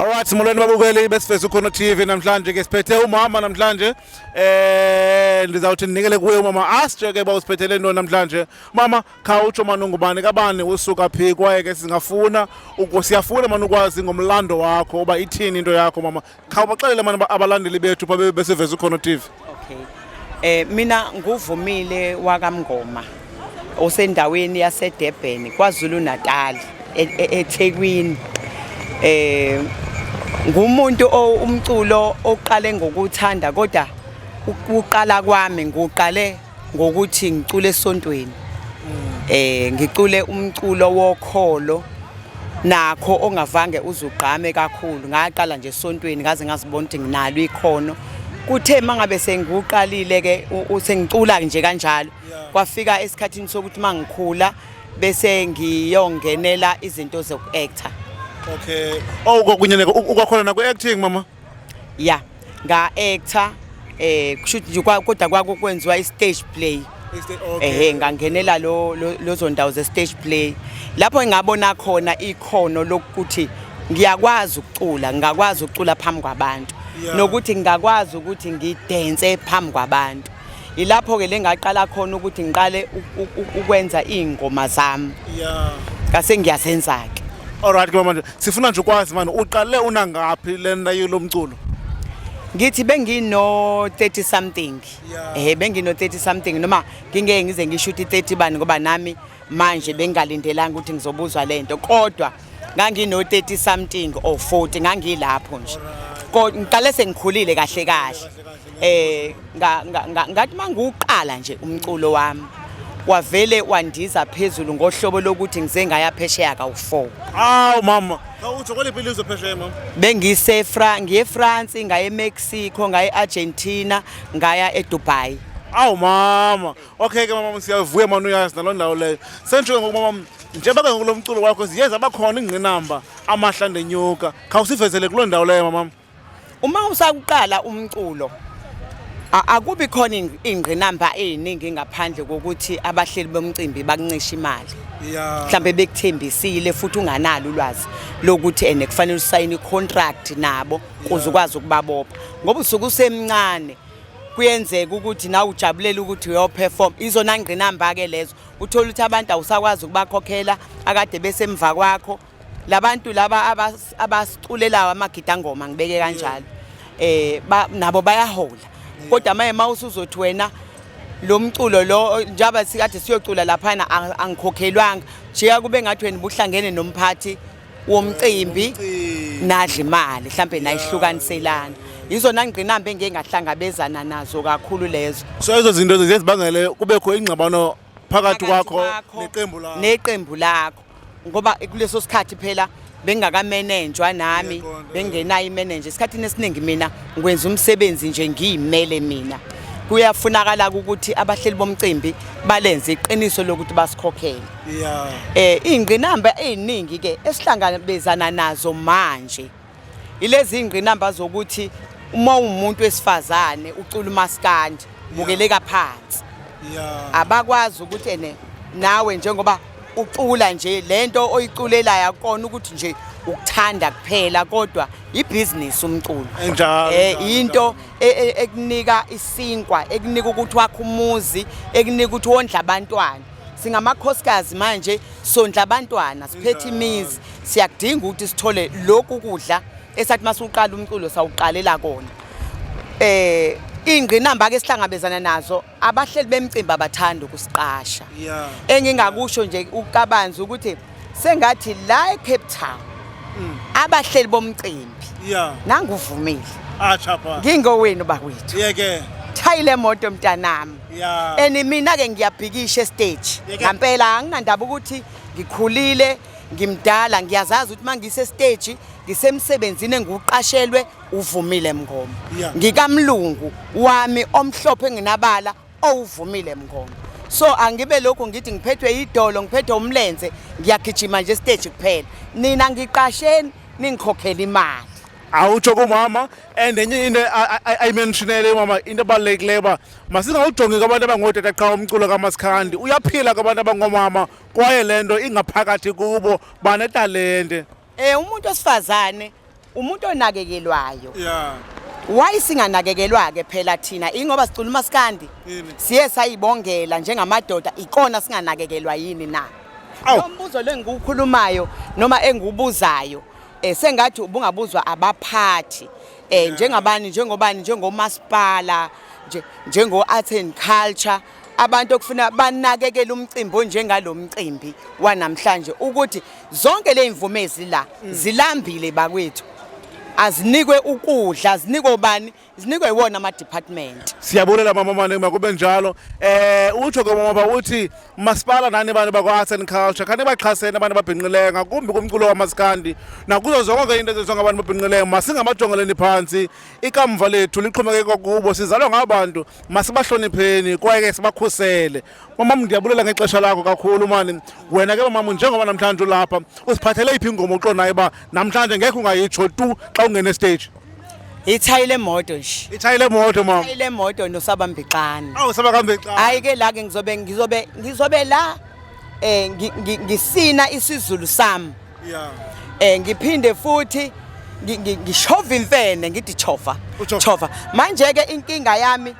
Alright molweni babukeli besifezo khona TV namhlanje ke siphethe umama namhlanje eh ndizawuthi ndinikele kuye umama asitshe ke bawusiphethele into namhlanje mama khawutsho mani ungubani kabani usuka phi kwaye ke singafuna siyafuna mani ukwazi ngomlando wakho uba ithini into yakho mama khawubaxelele mani abalandeli bethu pha beseveza ukhona TV okay eh mina nguvumile wakamngoma osendaweni yaseDurban kwaZulu Natal e, e, eThekwini eh ngumuntu umculo oqale ngokuthanda kodwa uqala kwami nguqale ngokuthi ngicule esontweni eh ngicule umculo wokholo nakho ongavange uzugqame kakhulu ngaqala nje esontweni ngaze ngazibona ukuthi nginalo ikhono kuthe mangabe sengiwuqalile ke usengicula nje kanjalo kwafika esikhathini sokuthi mangikhula bese ngiyongenela izinto zokuactor okay oh kokunye ukwakholana ku acting mama ya nga-actor um kushuthi nje kwa- kodwa kwako kwenziwa i-stage play ehe ngangenela lo- lo- lezo ndawo ze-stage play lapho engabona khona ikhono lokuthi ngiyakwazi ukucula ngingakwazi ukucula phambi kwabantu Yeah. nokuthi ngingakwazi ukuthi ngidense phambi kwabantu ilapho-ke le ngaqala khona ukuthi ngiqale u- u- u- ukwenza iy'ngoma zami ya ngase ngiyazenza-ke Alright ke mama. Sifuna nje ukwazi manje uqale una ngaphi lena yilo mculo? Ngithi bengino 30 something. Eh bengino 30 something noma ngingeke ngize ngishuthi 30 bani ngoba nami manje bengalindelanga ukuthi ngizobuzwa lento kodwa ngangino 30 something or 40 ngangilapho nje. Kodwa ngiqale sengikhulile kahle kahle. eh ngathi mangiwuqala nje umculo wami wavele wandiza phezulu ngohlobo lokuthi ngize ngaya phesheya kawu-4 awu mama utho kweliphi ilizwe phesheya mama bengisefra ngiyefrance ngaye mexico ngaye argentina ngaya edubai awu mama okay ke mama siyavuya mani uyazi naloo ndawo leyo sendisho ngoku mama njengoba ke ngoku lo mculo wakho ziye zabakhona ingqinamba amahla ndenyuka khawusivezele kuloo ndawo leyo mamama Uma usakuqala umculo akubi khona ingqinamba eziningi ngaphandle kokuthi abahleli bomcimbi bakuncisha imali mhlambe bekuthembisile futhi unganalo ulwazi lokuthi ene kufanele usayine icontract nabo kuze ukwazi ukubabopha ngoba usuke usemncane kuyenzeka ukuthi nawe ujabulela ukuthi uyoperform izona ngqinamba ke lezo uthola ukuthi abantu awusakwazi ukubakhokhela akade besemva kwakho labantu laba abasiculelayo amagidangoma ngibeke kanjalo eh nabo bayahola kodwa maye mawusuzothi wena lo mculo lo njaba sikade siyocula laphana angikhokhelwanga jika kube ngathi wena buhlangene nomphathi womcimbi nadla imali mhlambe nayihlukaniselana yizona ngqinamba engeke ngahlangabezana nazo kakhulu lezo so izo zinto zezibangele kubekho ingxabano phakathi kwakho neqembu lakho neqembu lakho ngoba kuleso sikhathi phela bengakamanenjwa nami bengenayo imanenje esikhathini esiningi mina ngikwenza umsebenzi nje ngiyimele mina kuyafunakala ukuthi abahleli bomcimbi balenze iqiniso lokuthi basikhokhele yeah eh ingqinamba eziningi ke esihlangabezana nazo manje Ilezi ingqinamba zokuthi uma ungumuntu wesifazane ucula umaskandi bukeleka phansi. Yeah. Abakwazi ukuthi ene nawe njengoba ucula nje lento oyiculelayo akona ukuthi nje ukuthanda kuphela kodwa ibhizinisi umculo Enjalo, eh enjalo, into e- e- ekunika isinkwa ekunika ukuthi wakhe umuzi ekunika ukuthi wondla abantwana singamakhosikazi manje sondla abantwana siphethe imizi siyakudinga ukuthi sithole lokhu kudla esathi masuqala umculo sawuqalela kona eh ingqinamba ke sihlangabezana nazo abahleli bemcimbi abathanda ukusiqasha engingakusho nje ukabanzi ukuthi sengathi la eCape Town mm. abahleli bomcimbi nanguvumile acha pha ngingowenu bakwethu yeke thayile moto mntanami yeah. and mina-ke ngiyabhikisha esiteji ngampela anginandaba ukuthi ngikhulile ngimdala ngiyazazi ukuthi uma ngisesiteji ngisemsebenzini engiwuqashelwe uvumile mngoma yeah. ngikamlungu wami omhlophe enginabala owuvumile mngoma so angibe lokhu ngithi ngiphethwe idolo ngiphethwe umlenze ngiyagijima nje stage kuphela nina ngiqasheni ningikhokhela imali awutsho kumama and enye into ayimentionele umama into ebalulekileyo uba masingawujongi kwabantu abangootata qha umculo kamasikhandi uyaphila kwabantu abangoomama kwaye le nto ingaphakathi kubo banetalente um umuntu osifazane umuntu onakekelwayo yeah. wayi singanakekelwa-ke phela thina ingoba sicula umasikandi siye sayibongela njengamadoda ikona singanakekelwa yini na lo mbuzo lo engikuwukhulumayo noma engiwubuzayo Eh sengathi ubungabuzwa abaphathi eh njengabani njengobani njengomasipala nje njengo arts and culture abantu okufuna banakekele umcimbi onjengalomcimbi wanamhlanje ukuthi zonke lezimvumezi la mm. zilambile bakwethu azinikwe ukudla zinikwe ubani zinikwe iwona ama department siyabulela mama mani makube njalo eh utsho ke mama uthi masipala nani abantu bakwa arts and culture khani baxhasene abantu ababhinqileyo ngakumbi kumculo wamasikandi nakuzo zonke ke into ezenziwa ngabantu ababhinqileyo masingamajongeleni phantsi ikamva lethu lixhomekeke kwakubo sizalwa ngabantu masibahlonipheni kwaye ke sibakhusele Mamam ndiyabulela ngexesha lakho kakhulu mani. Wena ke mamam njengoba namhlanje ulapha usiphathele iphi ingoma uqonayo ba namhlanje ngeke ungayitsho tu xa ungene stage. Ithayi lemoto nje. Ithayi lemoto mama. Ithayi lemoto nosabambixana. Awu sabakambixana. Hayi ke la ke ngizobe ngizobe ngizobe la eh ngisina isiZulu sami. Yeah. Eh ngiphinde futhi ngishova imfene ngithi chova. Chova. Manje ke inkinga yami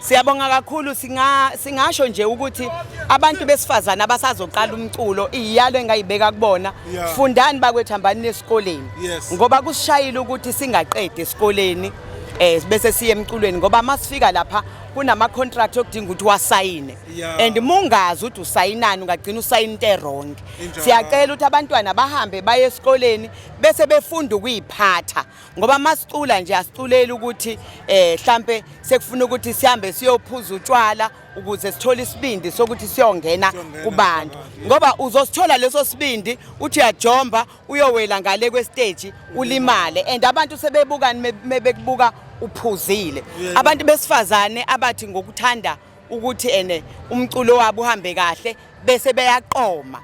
Siyabonga kakhulu singa singasho nje ukuthi abantu besifazana abasazoqala umculo iyalo engayibeka kubona yeah. fundani bakwethu hambani esikoleni yes. ngoba kusishayile ukuthi singaqedi esikoleni eh bese siye emculweni ngoba masifika lapha kunama contract okudinga ukuthi wasayine yeah. and mungazi ukuthi usayinani ungagcina usayina into eronke siyacela ukuthi abantwana bahambe baye esikoleni bese befunda ukuyiphatha ngoba masicula nje asiculeli ukuthi eh mhlambe sekufuna ukuthi sihambe siyophuza utshwala ukuze sithole isibindi sokuthi siyongena kubantu ngoba uzosithola leso sibindi uthi uyajomba uyowela ngale kwestage ulimale and abantu sebebukani mebekubuka uphuzile abantu besifazane abathi ngokuthanda ukuthi ene umculo wabo uhambe kahle bese beyaqoma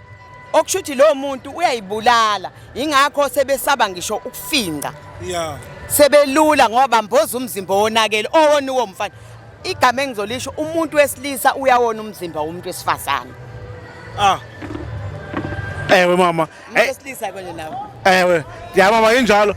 okusho ukuthi lowo muntu uyayibulala yingakho sebesaba ngisho ukufinca yeah sebelula ngoba mboza umzimba wonakele owona uwo mfana igama engizolisho umuntu wesilisa uyawona umzimba womuntu wesifazane ah ewe mama umuntu wesilisa kwenye nawo ewe ya mama injalo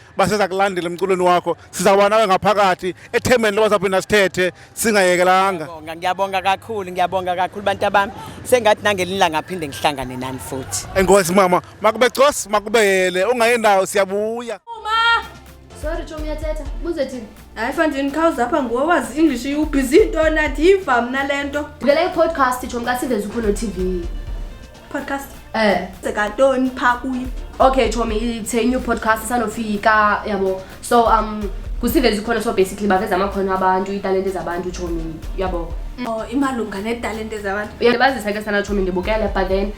baseza kulandela emculweni wakho sizawuba nawe ngaphakathi ethembeni loba saphinda sithethe singayekelanga ngiyabonga kakhulu ngiyabonga kakhulu bantu abami sengathi nangelinye ilanga aphinde ngihlangane nani futhi enkosi mama makube cos makubeyele ungayendawo siyabuya uma sorry chomi yathetha buze thini hayi fanjini khawuze apha nguwe wazi english iwubhizi into nathi yiva mna le nto bukela i-podcast chomi kasiveza upholo tv podcast eh sekatoni pha kuyo okay chomi it's a new podcast sanofika yabo so um kusivezi khona so basically baveza amakhono abantu italente zabantu chomi yabo oh imalunga netalente zabantu uyabazisa ke sana chomi ndibukele but then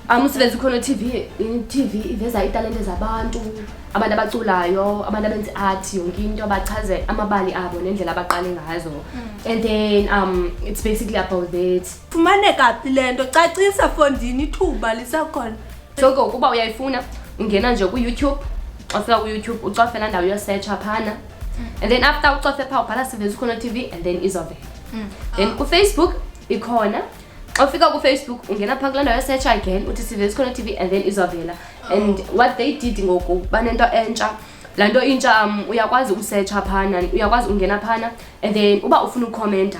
um usivezi khona tv tv iveza italente zabantu abantu abaculayo abantu abenza art yonke into abachaze amabali abo nendlela abaqale ngazo mm. and then um it's basically about that Fumaneka phi le nto? Cacisa fondini ithuba lisakhona. Soko ukuba uyayifuna ungena nje kuYouTube, xa ufika kuYouTube ucofe laa ndawo yosetsha phana. And then after ucofe phaa ubhala Siveza Ukhono TV and then izovela. Then kuFacebook ikhona. Xa ufika kuFacebook ungena phaa kulaa ndawo yosetsha again uthi Siveza Ukhono TV and then izovela. And what they did ngoku banento entsha. Laa nto intsha um, uyakwazi usetsha phana, uyakwazi ungena phana and then uba ufuna ukhomenta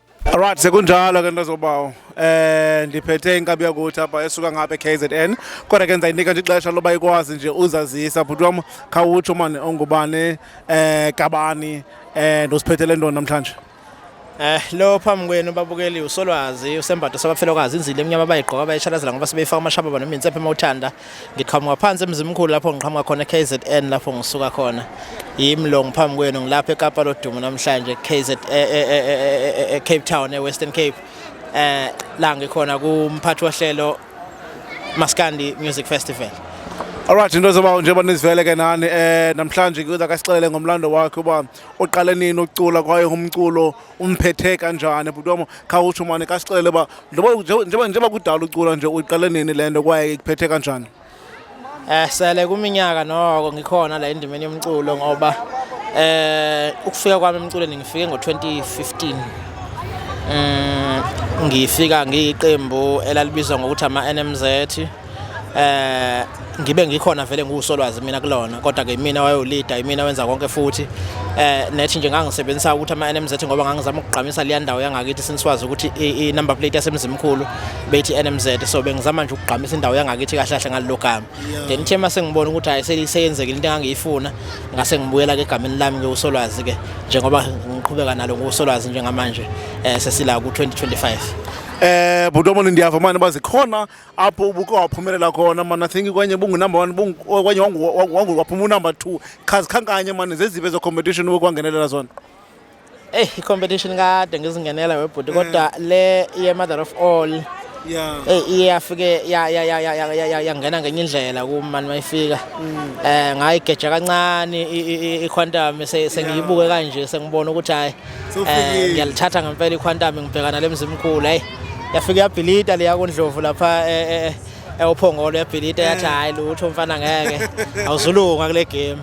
Alright sekunjalo ke ntozobawo eh ndiphethe inkabi yakuthi apha esuka ngapha eKZN kodwa ke ndizayinika nje ixesha loba ikwazi nje uzazisa bhuti wam khawutsho mani ongubani eh kabani eh ndosiphethele ntoni namhlanje Eh lo phambi kwenu babukeli usolwazi usembatho sabafelokazi inzile emnyama bayigqoka bayishalazela ngoba sebeyifaka amashaba noma insephe mawuthanda Ngiqhamuka phansi emzimkhulu lapho ngiqhamuka khona KZN lapho ngisuka khona. Yimi lo ngiphambi kwenu ngilapha eKapa lodumo namhlanje KZ e, e, e, eCape Town eWestern Cape. Eh la ngikhona kumphathi wohlelo Maskandi Music Festival. Alright into zoba njengoba nizivele ke nani eh namhlanje kuza kasixelele ngomlando wakhe uba uqale nini ukucula kwaye umculo umphethe kanjani bhuti wami khawutsho mane kasixelele uba njengoba njengoba kudala ucula nje uyiqale nini le nto kwaye ikuphethe kanjani eh sele kuminyaka noko ngikhona la endimeni yomculo ngoba eh ukufika kwami emculweni ngifike ngo-2015 um mm, ngifika ngiyiqembu elalibizwa ngokuthi ama-nmz eh ngibe ngikhona vele ngiwusolwazi mina kulona kodwa ke mina wayolida imina wenza konke futhi eh nethi nje ngangisebenzisa ukuthi ama NMZ ngoba ngangizama ukugqamisa le ndawo yangakithi siniswazi ukuthi i number plate yasemzimkhulu bethi NMZ so bengizama nje ukugqamisa indawo yangakithi kahle kahle ngalogama then ithe mase ngibona ukuthi hayi seyenzekile into engangiyifuna ngase ngibuyela ke egameni lami ke usolwazi ke njengoba ngiqhubeka nalo ngusolwazi njengamanje eh sesila ku 2025 eh butomoni ndiyava manje bazikhona apho ubuke waphumelela khona mani i think kwenye bungunumber one kwenye waphuma unumber two qha zikhankanye mani zeziphi ezocompetition wekwangenelela zona eyi i-competition kade ngizingenela webhuti kodwa mm. le ye-mother of all eyi iye yafike yangena ngenye indlela kum mani mayifika um mm. eh, ngayigeja kancane i-quantum sengiyibuke kanje sengibona ukuthi hhayi Eh ngiyalithatha ngempela iQuantum ngibhekana lemzimkhulu hey. Yafika yabhilita leya kondlovu lapha eh, eh, eh ewuphongolo yabhilita yathi eh. hayi lutho mfana ngeke awuzulunga kule game.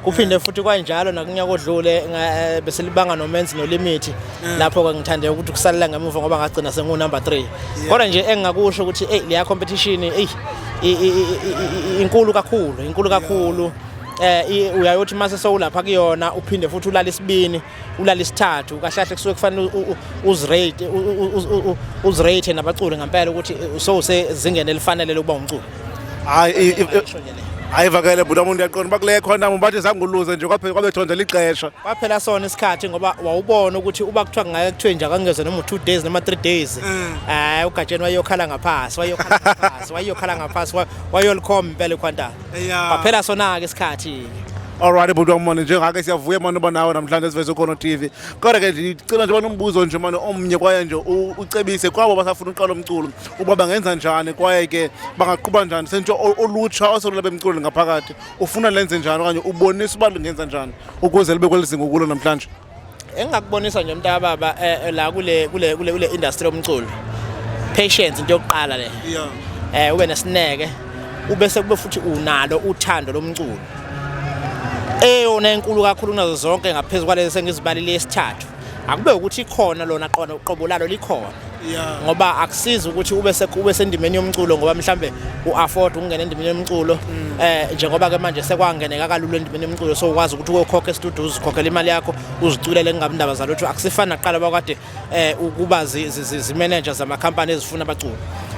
Kuphinde futhi kwanjalo nakunyaka odlule eh, besilibanga nomenzi nolimithi lapho ke ngithande ukuthi kusalela ngemuva ngoba ngagcina sengu number 3. Kodwa nje engingakusho ukuthi hey leya competition hey inkulu kakhulu inkulu kakhulu eh uyayothi mase sowulapha kuyona uphinde futhi ulala isibini ulala isithathu kahlahle kusuke kufanele uzirate uzirate nabaculi ngempela ukuthi so usezingeni elifanele lokuba umculi hayi hayi vakele bhuti umuntu uyaqonda uba kule khona bathi zanguluze nje kwaphela kwabethonda lixesha kwaphela sona isikhathi ngoba wawubona ukuthi uba kuthiwa kungake kuthiwe nje akangezwe noma u-two days noma three days mm. hayi ugatsheni wayokhala ngaphasi wayokhala ngaphasi wayokhala ngaphasi wayolikhomba impela ikhwantana Baphela sona ke isikhathi. Alright bhuti wamona njengake siyavuya manje uba nawe namhlanje siveze khona TV. Kodwa ke ngicela nje banombuzo nje manje omnye kwaye nje u- ucebise kwabo basafuna uqala umculo uba bangenza njani kwaye ke bangaquba njani sentsho o- olutsha oselula bemculo ngaphakathi ufuna lenze njani okanye ubonisa uba lingenza njani ukuze libe kweli zinga ukulo namhlanje. engingakubonisa nje umntaka baba eh, eh, la kule kule kule kule industry yomculo patience into yokuqala le yeah eh ube nesineke ubese kube futhi unalo uthando lomculo eyona enkulu kakhulu kunazo zonke ngaphezulu kwalezi sengizibalile esithathu akube ukuthi ikhona lona qona uqobo lalo likhona yeah. ngoba akusizi ukuthi ube sekube sendimeni yomculo ngoba mhlambe uafford ukungena endimeni yomculo mm. eh njengoba ke manje sekwangeneka kalula endimeni yomculo so ukwazi ukuthi uyokhokha estudio uzikhokhela imali yakho uziculele kungabi ndaba zalutho akusifani naqala bakade eh ukuba zimanager zama company ezifuna abaculi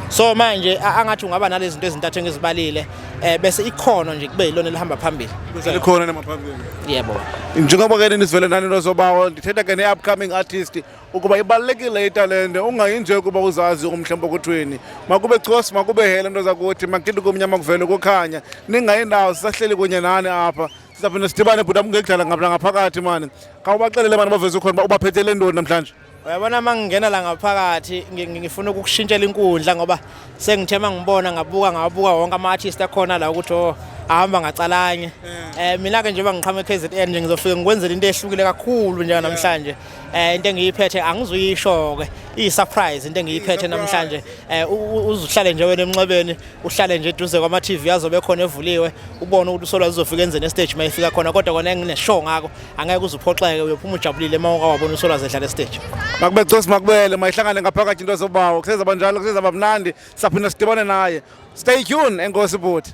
so manje angathi ungaba nalezi zinto ezintathu engizibalile eh bese ikhono nje kube yilona elihamba phambili bese likhona namaphambili yebo njengoba ke nisivele nani nozobawo ndithetha ke ne upcoming artist ukuba ibalulekile italente ungayi nje ukuba uzazi umhla mpokothweni makube cosi makube hele nto zakuthi makidi kumnyama kuvele kukhanya ningayi ndawo sisahleli kunye nani apha sizaphinde sidibane bhuti amngekudlala ngapha ngaphakathi mani khawubaxelele mani baveze ukhona uba ubaphethele ntoni namhlanje uyabona uma ngingena la ngaphakathi ngifuna ukukushintshela inkundla ngoba sengithe uma ngibona ngabuka ngabuka wonke ama-artist akhona la ukuthi o oh, ahamba ngacalanye um eh, mina-ke njengoba ngiqhama e-k z n nje ngizofike ngikwenzela into ehlukile kakhulu njenganamhlanje eh into engiyiphethe angizuyisho ke i surprise into engiyiphethe namhlanje eh uzuhlale nje wena emnxebeni uhlale nje eduze kwama TV azobe khona evuliwe ubone ukuthi usolwa uzofika enzeni e stage mayifika khona kodwa kona engine show ngako angeke uzuphoxeke uyophuma ujabulile uma ungawabona usolwa zedlala e stage makube cosi makubele mayihlangane ngaphakathi into zobawo kusezaba njalo kusezaba mnandi saphinda sidibane naye stay tuned enkosi bhuti